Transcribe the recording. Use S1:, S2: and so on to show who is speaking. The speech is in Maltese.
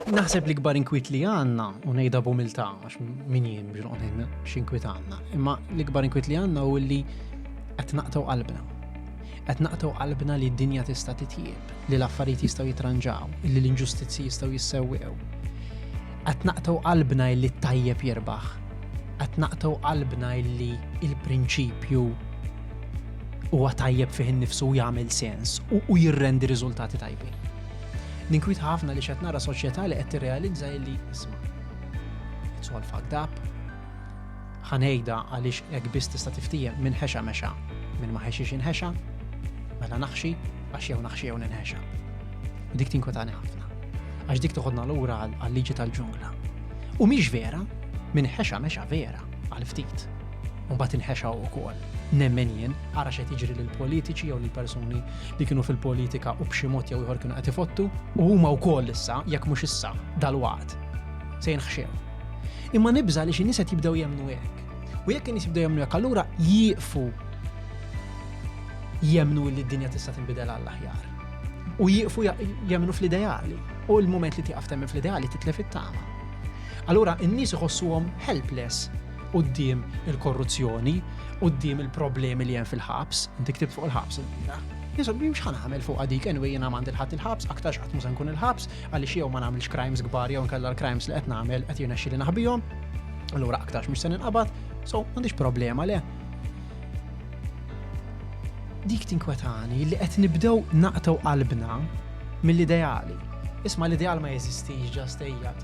S1: Naħseb l-ikbar inkwiet li għandna, u ngħidha b'umiltà għax min jien biex noqgħod ngħid x'inkwiet għandna, imma l-ikbar inkwiet li għandna hu li qed naqtgħu qalbna. Qed naqtgħu qalbna li d-dinja tista' titjieb, li l-affarijiet jistgħu jitranġaw, li l-inġustizzji jistgħu jissewwew. Qed naqtgħu qalbna li t-tajjeb jirbaħ. Qed naqtgħu qalbna li l-prinċipju huwa tajjeb fih innifsu u jagħmel sens u jirrendi riżultati tajbin. Ninkwieta ħafna li x'qed nara soċjetà li qed tirrealizza illi isma' it's all fucked up. Ħanejda għaliex hekk biss tista' tiftiehem minn ħexa mexa, minn ma ħexiex inħexa, mela naħxi għax jew naħxi jew ninħexa. U dik tinkwetani ħafna. Għax dik toħodna lura għal-liġi tal-ġungla. U mhix vera, minn ħexa mexa vera għal ftit. Mbagħad inħexaw ukoll. Nemmen jien, ara x'qed jiġri lil politiċi jew lil persuni li kienu fil-politika u b'xi mod jew ieħor kienu qed ifottu, u huma wkoll issa, jekk mhux issa, dalwaqt, se jinħxew. Imma nibża' li xi nies qed jibdew jemmnu hekk. U jekk in-nies jibdew jemmnu hekk, allura jieqfu jemmnu li d-dinja tista' tinbidel għall-aħjar. U jieqfu jemmnu fl-ideali. U l-moment li tieqaf temmen fl-ideali titlef it-tama. Allura, in-nies iħossuhom helpless quddiem il-korruzzjoni, quddiem il-problemi li hemm fil-ħabs, inti ktib fuq il-ħabs il-bira. Jisob li mxħan għamil fuq għadik, anyway jena għand il-ħat il-ħabs, aktarx għatmu se nkun il-ħabs, għalli xiew ma nagħmilx crimes kbar jew nkella l-crimes li qed nagħmel qed jirnexxi li naħbihom. Allura aktarx mhux se ninqabad, so m'għandix problema le. Dik tinkwetani li qed nibdew naqtaw qalbna mill-ideali. Isma l-ideal ma jeżistix ġastejjat.